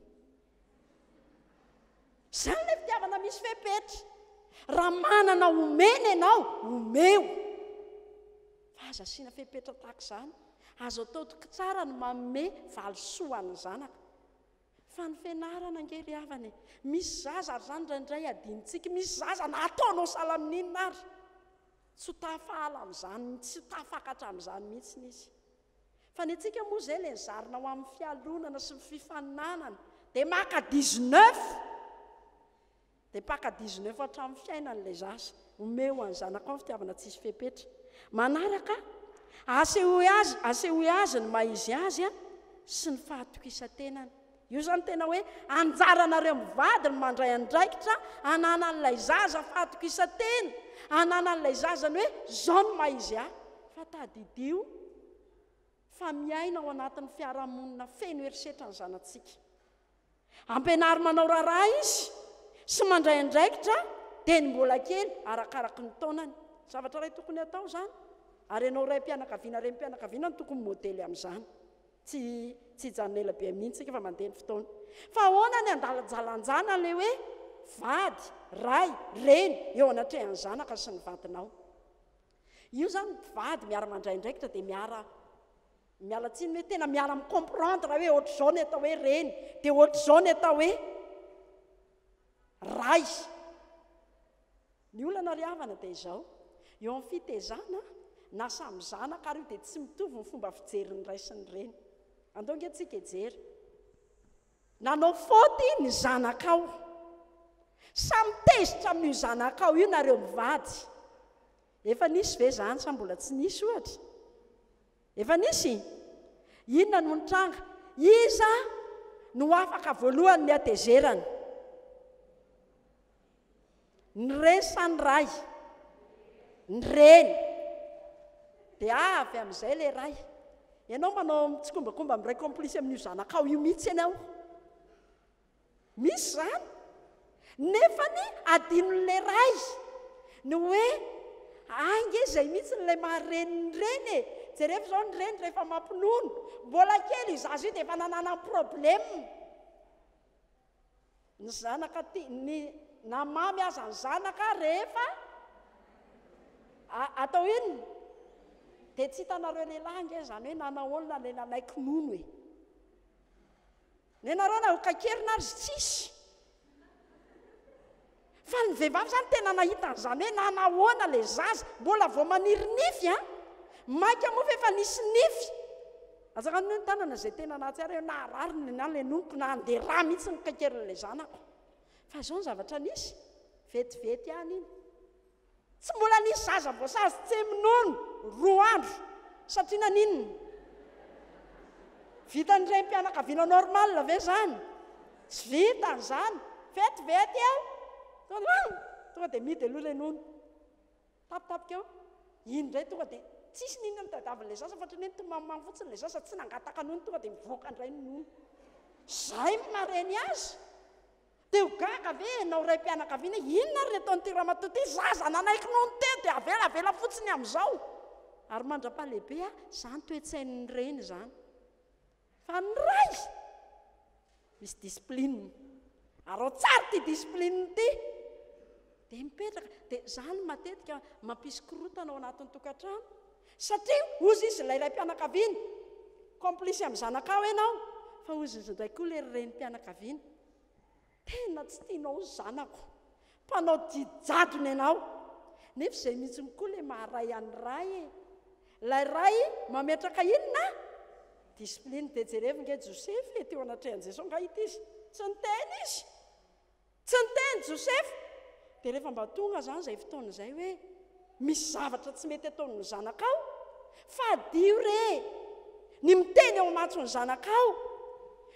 Izany ilay fitiavana misy fepetra. Raha manana omena ianao, omeo. Fa aza asiana fepetra tahaka izany. Azo atao tsara ny manome valisoa ho an'ny zanaka. Fa ny fianarana ange ry havana e! Misy zaza ary izany indraindray adinontsika, misy zaza na ataonao salamin'inona ary, tsy ho tafaala amin'izany, tsy ho tafakatra amin'izany mihitsy izy. Fa ny antsika moa izay ilay zarina ho amin'ny fialonana sy ny fifaninanana dia maka dix neuf dia mpaka dix neuf hatramin'ny fiainany ilay zaza omeo ho an'ny zanakao ny fitiavana tsisy fepetra manaraka asehoy azy asehoy azy ny maha izy azy sy ny fahatokisan-tenany Io zany tena hoe anjaranareo mivady ny mandray andraikitra ananan'ilay zaza fahatokisantena ananan'ilay zaza ny hoe zao ny maha izy ahy fa tadidio fa miaina ao anatin'ny fiarahamonina feno herisetra ny zanatsika ampianaro manao raharaha izy sy mandray andraikitra dia ny mbola kely arakaraky ny taonany zavatra iray tokony atao zany ary ianao raim-pianakaviana renim-pianakaviana no tokony modely amin'izany Tsy tsy hijanona ela be mihitsy isika fa mandeha ny fotoana. Fa ahoana ny andalajalanjana ilay hoe vady, ray, reny eo anatrehan'ny zanaka sy ny vadinao? Io izany mpivady miara mandray andraikitra dia miara miala tsiny hoe tena miara mi-comprendre hoe ohatr'izao ny atao hoe reny, dia ohatr'izao ny atao hoe Ray. Ny olana ry havana dia izao, eo amin'ny fitezana na samy zanaka ary io dia tsy mitovy ny fomba fijerin'ny ray sy ny reny. Andao ange tsika hijery. Nanao faute ny zanakao. Sa mitezitra amin'io zanakao io nareo mivady? Efa nisy ve izany sa mbola tsy nisy ohatra? Efa nisy? Inona no nitranga? Iza no afaka voalohany ny hatezerana? Ny reny sa ny ray? Ny reny. Dia avy amin'izay ilay ray. Ianao manao mitsikombakomba miray kaomplisy amin'io zanakao io mihitsy ianao. Misy izany. Nefa ny adinon'ny lehiray ny hoe hay nge izay mihitsy ilay maha reny ny reny e! Jerevo izao ny reny rehefa mampinono. Mbola kely io zaza io dia efa nananany problème. Ny zanaka ti, ny, na mamy aza ny zanaka rehefa atao inona? Dia tsy hitanareo lehilahy ange izany hoe nanahoana ilay nanaiky nono e! Nenareo na ho kaikerina azy tsisy. Fa ny vehivavy zany tena nahita an'izany hoe nanahoana le zaza, mbola vao maniry nify an! Maika moa fa efa nisy nify. Azaka ny hoe ny tanana zay tena nahatsiaro hoe naharary ny na le nonoko na andeha rà mihitsy ny kaikerin'ilay zanako. Fa zao ny zavatra nisy, vetivety ihany iny. Tsy mbola nisy zaza voasazy tsemy nono roa andro satria naninona? Vitan'ny renim-pianakaviana normal ve zany? Tsy vitany izany, vetivety eo tonga tonga dia mihidy aloha ilay nono, tapitapika eo, iny indray tonga dia tsisy n'inona nitadiavin'ilay zaza fa ohatran'ny hoe nitomamimamy fotsiny ilay zaza tsy nangataka nono tonga dia mivoaka indray ny nono. Izay no mahareny azy. Te ho gaga ve ianao raim-pianakaviana hoe inona ary ny ataon'ity ramatoa ity, zaza nanaiky nono teo dia avelavela fotsiny amin'izao? Ary mandra-pahalehibe aho, izany toe-tsain'ny reny izany. Fa ny ray, misy discipline. Arao tsara ity discipline ity. Dia mipetraka, dia izany no matetika mampisy korontana ao anatin'ny tokantrano. Satria hozy izy ilay raim-pianakaviana, complice amin'ny zanakao ianao, fa hozy indray koa ilay renim-pianakaviana. Tena tsy tianao ny zanako. Mpanao didy jadona ianao. Nefa izay mihitsy koa ilay maharay an'i Ray e. Ilay Ray mametraka inona? Discipline. Dia jerevo nge Josefa e, teo anatrehan'i Jeso angaha ity izy? Tsy niteny izy. Tsy niteny Josefa. Dia rehefa mba tonga izany izay fotoana izay hoe, Misy zavatra tsy mety ataon'ny zanakao? Fadiho re ny miteny eo imatson'ny zanakao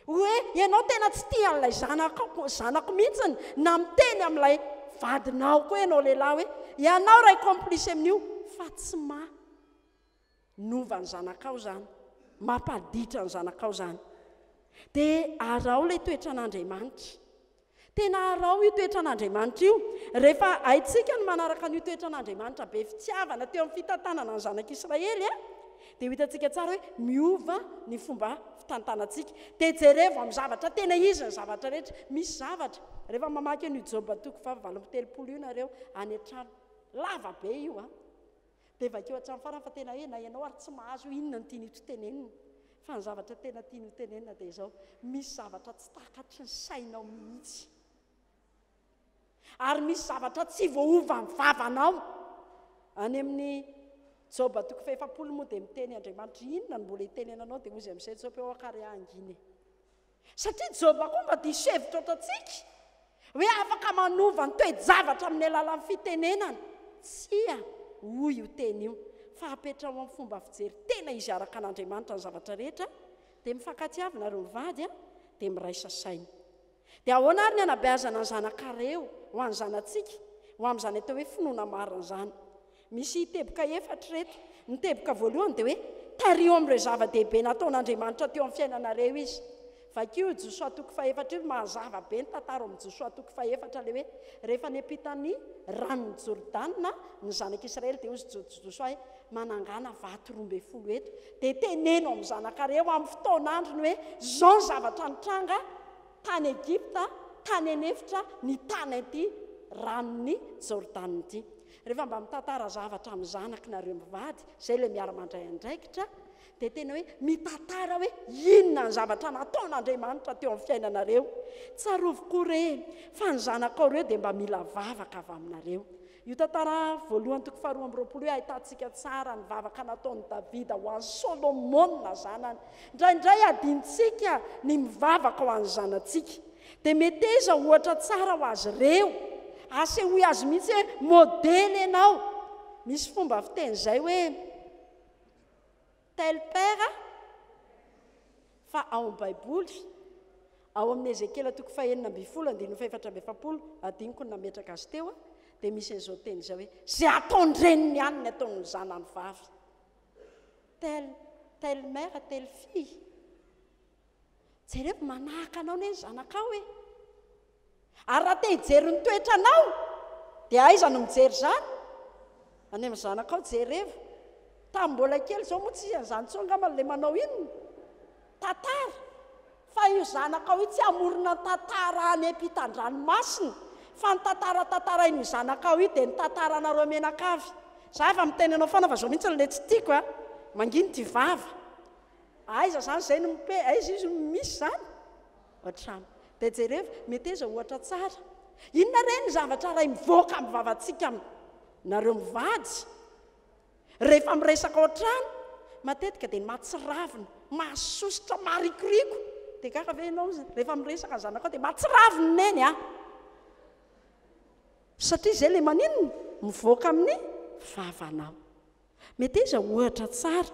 hoe ianao tena tsy tia an'ilay zanakao, zanako mihitsiny, na miteny amin'ilay vadinao koa ianao lehilahy hoe ianao ray complice amin'io fa tsy ma. Nova ny zanakao izany, mampaditra ny zanakao izany. Dia araho ilay toetran'Andriamanitra. Tena araho io toetran'Andriamanitra io. Rehefa haintsika ny manaraka an'io toetran'Andriamanitra be fitiavana teo amin'ny fitantanana ny zanak'Israely, eh, dia ho hitantsika tsara hoe miova ny fomba fitantanantsika. Dia jerevo amin'ny zavatra tena izy ny zavatra rehetra. Misy zavatra, rehefa mamaky an'io Joba toko fahavalo amby telopolo io nareo any an-trano, lava be io an. Ah. Dia vakio hatramin'ny farany fa tena hoe na ianao ary tsy mahazo hoe inona no tiany hotenenina. Fa ny zavatra tena tiany hotenenina dia izao, misy zavatra tsy takatry ny sainao mihitsy. Ary misy zavatra tsy voaovan'ny vavanao. Any amin'ny Joba toko fahefapolo moa dia miteny Andriamanitra, inona no mbola hitenenanao dia hoy izy amin'izay Joba hoe ok ary aho hangina e. Satria Jehovah koa mba diso hevitra ohatrantsika, hoe afaka manova ny toe-javatra amin'ny alalan'ny fitenenana. Tsia, hoy io teny io, fa apetraho amin'ny fomba fijery tena izy araka an'Andriamanitra ny zavatra rehetra, dia mifankatiavina ireo mivady, dia miraisa saina. Dia ahoana àry ny hanabeazana ny zanakareo ho an'ny zanatsika, ho amin'izany atao hoe finoana marina izany? Misy teboka efatra ireto. Ny teboka voalohany dia hoe, Tariho amin'ireo zava-dehibe nataon'Andriamanitra teo amin'ny fiainanareo Izy. Vakio Josoa toko fahefatra io, mazava be ny tantara ao amin'ny Josoa toko fahefatra ilay hoe, rehefa niampita ny ranon'i Jordana ny zanak'Israely dia hozy Josoa hoe, manangana vato roa ambin'ny folo eto dia teneno amin'ny zanakareo amin'ny fotoan'androny hoe, izao ny zavatra nitranga tany Egypta, tany an'efitra, ny tany an'ity ranon'i Jordana ity. Rehefa mba mitantara zavatra amin'ny zanako nareo mivady, izay ilay miara-mandray andraikitra, dia tena hoe mitantara hoe inona ny zavatra nataon'Andriamanitra teo amin'ny fiainanareo. Tsarovy koa re fa ny zanakao ireo dia mba mila vavaka avy aminareo. Io tantara voalohany toko faharoa amby roapolo io ahitantsika tsara ny vavaka nataon'i Davida ho an'i Solomona zanany. Indraindray adinontsika ny mivavaka ho an'ny zanatsika. Dia meteza ohatra tsara ho azy ireo. Asehoy azy mihitsy hoe modely ianao. Misy fomba fiteny izay hoe tel père fa ao amin'ny Baiboly, ao amin'ny Ezekiela toko fahenina ambin'ny folo, andininy fahefatra amby efapolo, adiniko ny nametraka azy teo, dia misy an'izao teny izao hoe izay ataon-dreniny ihany ny ataon'ny zanany vavy. Tel, tel mère, tel fille. Jereo, manahaka anao anie ny zanakao e! Ary raha te hijery ny toetranao, dia aiza no mijery izany? Any amin'ny zanakao, jereo. Tamin'ny mbola kely izao moa tsy izy an'izany intsony angamba ilay manao inona? Tantara. Fa io zanakao io tsy hamorona ny tantara any ampitan-dranomasina, fa ny tantara tantarain'io zanakao io dia ny tantaranareo menakavy. Za efa miteny anao foana fa izao mihitsy ilay tsy tiako a! Mangina ity vava. Aiza zany zay no mipé, aiza izy no misy zany? Ohatrany. Dia jerevo, meteza ohatra tsara. Inona re ny zavatra iray mivoaka amin'ny vavantsika aminareo mivady? Rehefa miresaka ao an-trano, matetika dia ny mahatsiravina, mahasosotra, maharikoriko. Dia gaga ve ianao rehefa miresaka ny zanakao dia mahatsiravina i Neny a! Satria izay ilay maninona? Mivoaka amin'ny vavanao. Meteza ohatra tsara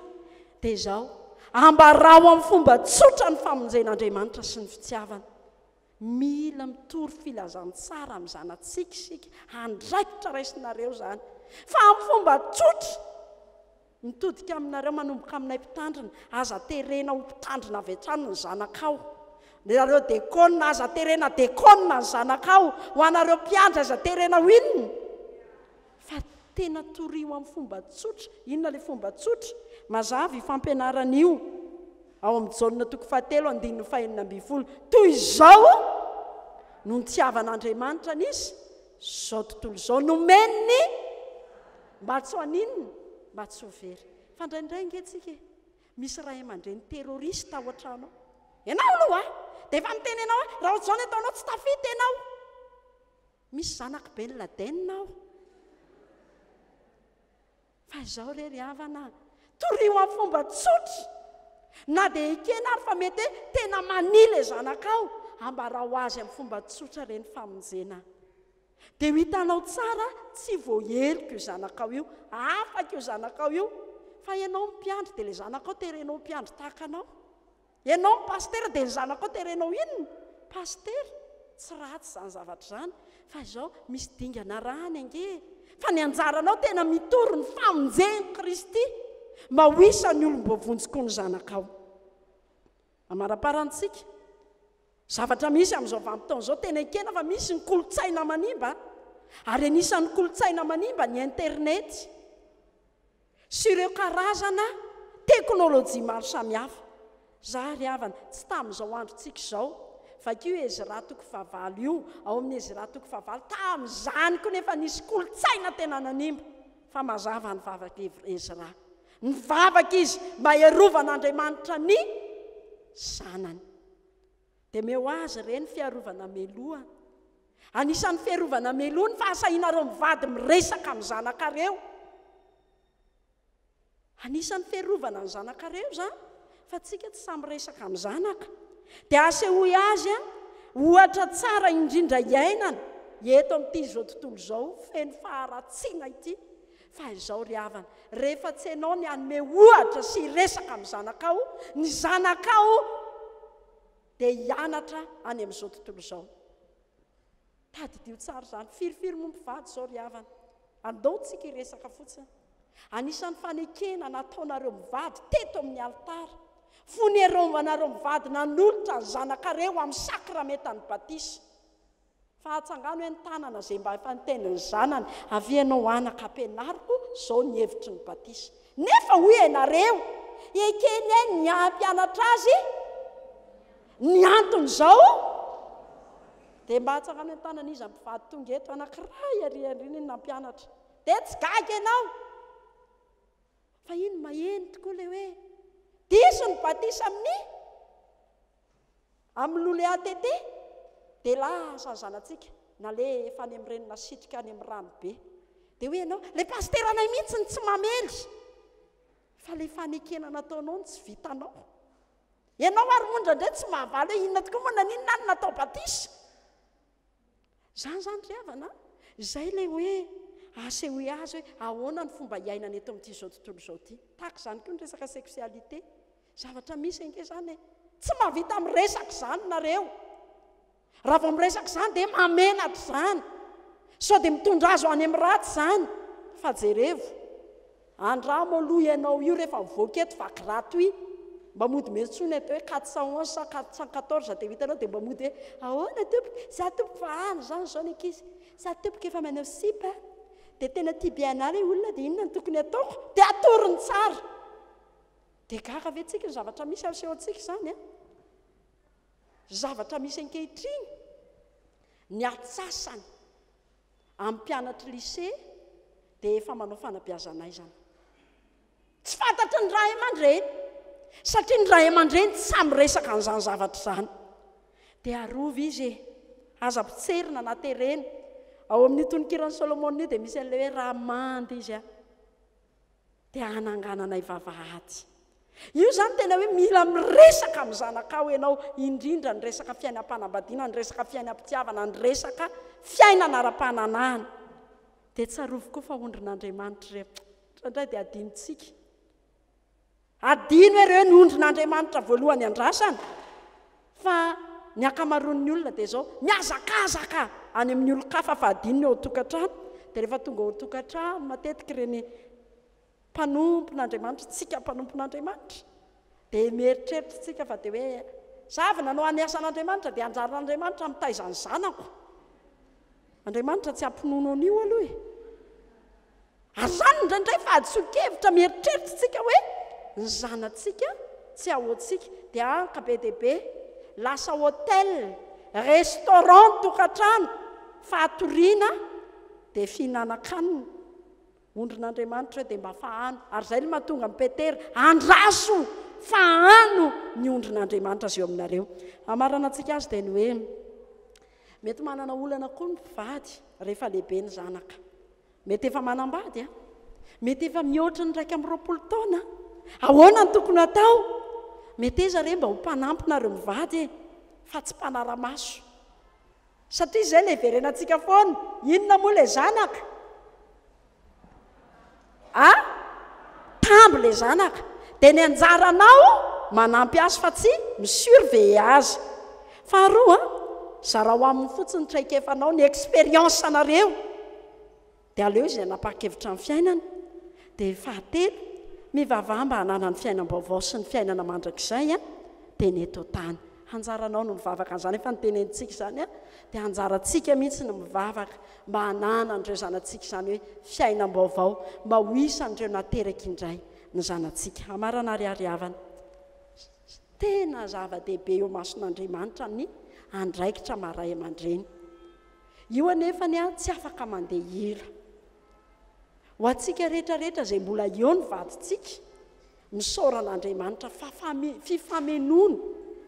dia izao, ambarao amin'ny fomba tsotra ny famonjen'Andriamanitra sy ny fitiavany. Mila mitory filazantsara amin'ny zanatsika isika, andraikitra raisinareo izany. Fa amin'ny fomba tsotra, mitodika aminareo manomboka aminay mpitandrina, aza terena ho mpitandrina avy hatrany ny zanakao. Nareo dekôna, aza terena dekôna ny zanakao. Ho anareo mpiandry, aza terena ho inona? Fa tena torio amin'ny fomba tsotra. Inona ilay fomba tsotra? Mazava io fampianarana io ao amin'ny Jaona toko fahatelo andininy fahenina ambin'ny folo. Toy izao no nitiavan'Andriamanitra ny izy, izao tontolo izao nomeny ny mba tsy ho haninona? Mba tsy ho very. Fa indraindray ange tsika e, misy ray aman-dreny terroriste ao an-trano ao. Ianao aloha a, dia efa miteny ianao hoe raha ohatr'izao ny ataonao tsy tafita ianao. Misy zanak'i Ben Laden aho. Fa izao re ry havana a, torio amin'ny fomba tsotra. Na dia ekena ary fa mety hoe tena mania ilay zanakao, ambarao azy amin'ny fomba tsotra ireny famonjena. Dia ho hitanao tsara, tsy voaheloka io zanakao io, afaka io zanakao io. Fa ianao mpiandry, dia ilay zanakao terenao ho mpiandry tahaka anao. Ianao ny pasitera dia ny zanakao terenao inona? Pasitera? Tsy ratsy izany zavatra izany fa izao misy dingana arahany ange e! Fa ny anjaranao tena mitory ny famonjen'i Kristy mba ho isan'ny olom-boavonjy koa ny zanakao. Amaraparantsika, zavatra misy amin'izao vanim-potoana izao, tena ekena fa misy ny kolontsaina manimba, ary anisan'ny kolontsaina manimba ny internety. sy ireo karazana teknolojia maro samihafa. Za ry havana, tsy tamin'izao androntsika izao. Vakio io Ezra toko fahavalo io, ao amin'ny Ezra toko fahavalo, tamin'izany koa nefa nisy kolontsaina tena nanimba, fa mazava ny vavak'i Ezra. Nivavaka izy mba hiarovan'Andriamanitra ny zanany. Dia meo azy re ny fiarovana meloa. Anisan'ny fiarovana meloa ny fahasahianareo mivady miresaka amin'ny zanakareo. Anisan'ny fiarovana ny zanakareo izany fa tsika tsy sahy miresaka amin'ny zanaka. Dia asehoy azy an, ohatra tsara indrindra iainana eto amin'ity izao tontolo izao feno faharatsiana ity. Fa izao ry havana, rehefa tsy ianao ny hanome ohatra sy hiresaka amin'ny zanakao, ny zanakao dia hianatra any amin'izao tontolo izao. Tadidio tsara izany. Firifiry moa ny mpivady izao ry havana? Andao isika hiresaka fotsiny. Anisan'ny fanekena nataonareo mivady teto amin'ny alitara, fonerombanareo mivady nanolotra ny zanakareo amin'ny sakramentan'ny batisa. Fa atsangano eny tanana ze mba efa niteny ny zanany avia ianao anaka ampianariko zao ny hevitry ny batisa nefa hoy ianareo ekeny ahy ny hampianatra azy ny antony zao de mba atsangano eny tanana iza mpivady tonga eto anakiray ary ary ny nampianatra de tsy gaga ianao fa iny maheno tokoa le hoe diso ny batisa amin'ny Amin'ny lole ATT dia lasa ny zanatsika nalefa any amin'ny reny nasitrika any amin'ny rano be. Dia hoy ianao, ilay pasiteranay mihitsy no tsy mamely. Fa ilay fanekena nataonao no tsy vitanao. Ianao ary moa indraindray tsy mahavaly hoe inona tokoa moa naninona aho no natao batisa. Izany izany ry havana an! Izay ilay hoe asehoy azy hoe ahoana ny fomba iainana eto amin'ity izao tontolo izao ity. Tahaka izany koa ny resaka sexualité. Zavatra misy ange izany e! Tsy mahavita miresaka izany nareo. Raha vao miresaka izany dia mahamenatra izany. Sao dia mitondra azy ho any amin'ny ratsy izany. Fa jerevo. Andramo aloha ianao io rehefa mivoaka eto fa gratuit. Mba mody miantsoana eto hoe quatre cent onze sa quatre cent quatorze dia ho hitanao dia mba mody hoe ahoana tompoko, za tompoko fa any izany izao ny ankizy, za tompoko efa manao sipa a, dia tena tia bianah ilay olona dia inona no tokony ataoko? Dia atorony tsara. Dia gaga ve tsika ny zavatra misy asehontsika izany a? Ny zavatra misy ankehitriny, ny atsasany amin'ny mpianatry lycée dia efa manao fanabeazan'aizana. Tsy fantatry ny ray aman-dreny, satria ny ray aman-dreny tsy sahy miresaka an'izany zavatra izany. Dia arovy izy e! Aza potserina na terena. Ao amin'io tononkiran'i Solomona io dia misy an'ilay hoe raha manda izy a! dia hanangananay vavahady. Io izany tena hoe mila miresaka amin'ny zanakao ianao, indrindra ny resaka fiainam-panambadiana, ny resaka fiainam-pitiavana, ny resaka fiainana ara-pananahana. Dia tsarovy koa fa ondrin'Andriamanitra ireo. Indraindray dia adinontsika. Adino ireo ny ondrin'Andriamanitra voalohany andrasana, fa ny ankamaroan'ny olona dia izao, mihazakazaka any amin'ny olon-kafa fa adino ny ao an-tokantrano, dia rehefa tonga ao an-tokantrano matetika ireny mpanompon'Andriamanitra, isika mpanompon'Andriamanitra, dia mieritreritra isika fa dia hoe, izaho avy nanao ny asan'Andriamanitra dia anjaran'Andriamanitra mitaiza ny zanako. Andriamanitra tsy hampinono an'io aloha e. Ary izany indraindray fa hadisoan-kevitra mieritreritra isika hoe ny zanatsika tsy ao antsika dia anka be dia be lasa hotel, restaurant ny tokantrano, fatoriana dia fihinanan-kanina. Ondrin'Andriamanitra dia mba fahano, ary izay no mahatonga an'i Petera, Andraso fahano ny ondrin'Andriamanitra izay eo aminareo. Hamaranantsika azy dia ny hoe, mety manana olana koa ny mpivady rehefa lehibe ny zanaka. Mety efa manambady an? Mety efa mihoatra ny iraika amby roapolo taona. Ahoana no tokony hatao? Meteza re mba ho mpanampy nareo mivady e, fa tsy mpanara-maso. Satria izay ilay hiverenantsika foana. Inona moa ilay zanaka? A? Tamby ilay zanaka. Dia ny anjaranao manampy azy fa tsy mi-surveiller azy. Faharoa, zarao aminy fotsiny ny traikefanao, ny expérience-nareo. dia aleo izay nanapa-kevitra ny fiainana, dia fahatelo, mivavaha mba hanana ny fiainam-baovao sy ny fiainana mandrakizay an, dia ny eto an-tany. Anjaranao ny mivavaka an'izany, efa notenenintsika izany an, dia anjarantsika mihitsy ny mivavaka mba hanana an'ireo zanatsika izany hoe fiainam-baovao, mba ho isan'ireo nateraka indray ny zanatsika. Hamarana ary hary havana, tena zava-dehibe eo imason'Andriamanitra ny andraikitra maha ray aman-dreny. Io anefa ny ahy tsy afaka mandeha ela. Ho antsika rehetra rehetra izay mbola eo ny vadintsika, misaora an'Andriamanitra fa fifamenoana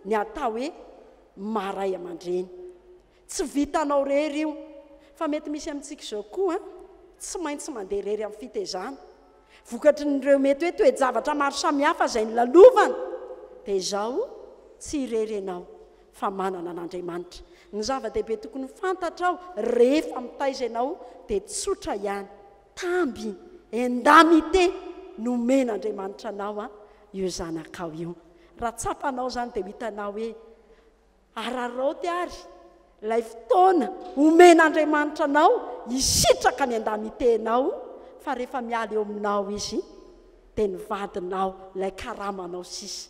ny atao hoe maha ray aman-dreny. Tsy vitanao irery io, fa mety misy amintsika izao koa an, tsy maintsy mandeha irery amin'ny fitezana. Vokatry ny ireo mety hoe toe-javatra maro samihafa izay nolalovana dia izao, tsy irery ianao, fa manana an'Andriamanitra. Ny zava-dehibe tokony fantatrao rehefa mitaiza ianao dia tsotra ihany, tamby, indemnité, nomen'Andriamanitra anao an, io zanakao io. Raha tsapanao izany dia ho hitanao hoe araraoty ary ilay fotoana omen'Andriamanitra anao hisitraka ny indemnité-nao fa rehefa miala eo aminao izy dia ny vadinao, ilay karamanao sisa.